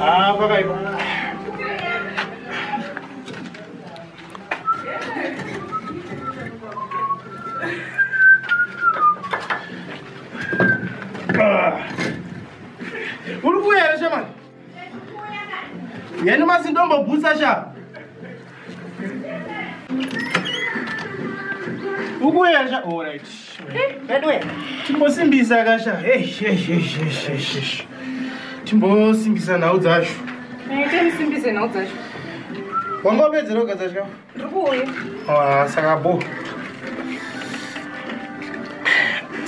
Ah, pakaipa. Uri kuya here shamani? Yani mazindombo bhusa sha. ukuyasha orit veduwe timbosimbisa kasha timbosimbisa nhau dzacho tisimbise nhau dzacho wanga wapedzera kugadzira chikafu ndiri kuuya ah, saka bo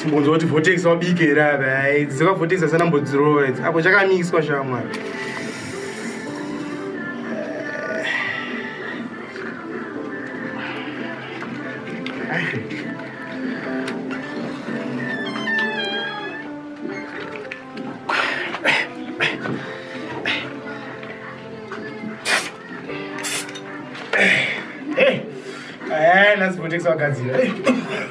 timbonzwa kuti votex wabike here ava dzeka votex asana mbodzirova idzi apo chakamiswa shamwa Hey, hey, hey, let's go take some guys here.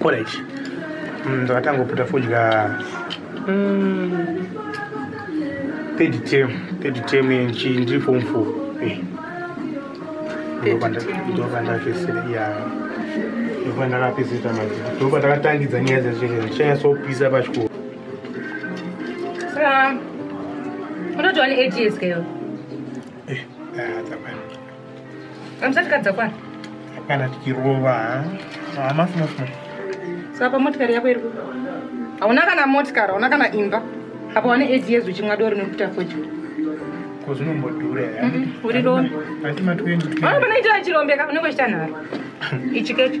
orit mm, mm, ndakatangoputa fodya mm, third term third term nchi ndiri form four eh. ndopandakesera ya ndopandakapeseta mazi ndopandakatangidza nyaya dzezvee chaya sopisa pachikoro unotova ne eight years keyo eh, ah, Amusati kadzakwana? Kana tikirova hama sima sima. Saka motikari yako iri kuba. Hauna kana motikari, hauna kana imba. Apa wane age yezu chimwa doro nekuita fojuru. Ko zvinombodhura ya? Mhm, uri rombe. Asi matwenzi. Vanoita chirombeka unenge uchita nharo. Ichi kecho.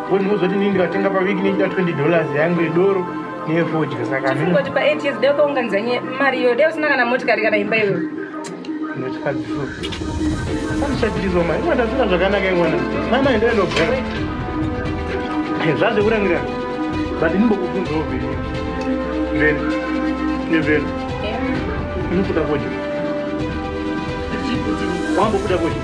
wondiuzoti ndini ndikatenga paviki nechida 20 dollars yangu yedoro neyefodya sakangoti pa 8 years dai ukaunganizanye mari iyoyo dai usina kana motikari kana imba iyoyo ndinochikadziso andishatirizwa mari imwe ndasina zvakanaka imwana nana enda inogara zvazvekurangirana but ndimbokubvunzawo vheni vheni nevheni unokuda kodya wambokuda kodya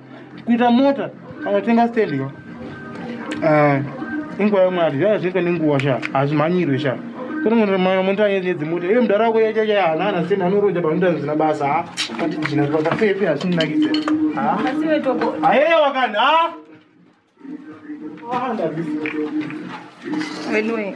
kuita mota kana tenga stand yo eh, inguva yemwari zvaa zvinoitwa nenguva sha hazvimhanyirwe sha tonomonotamota yedzimota iye mudhara wako yachacha hanana stand anoroja panoita zvisina basa ha katijina pakafefe hazvinakidze hayeya wakani ha Anyway.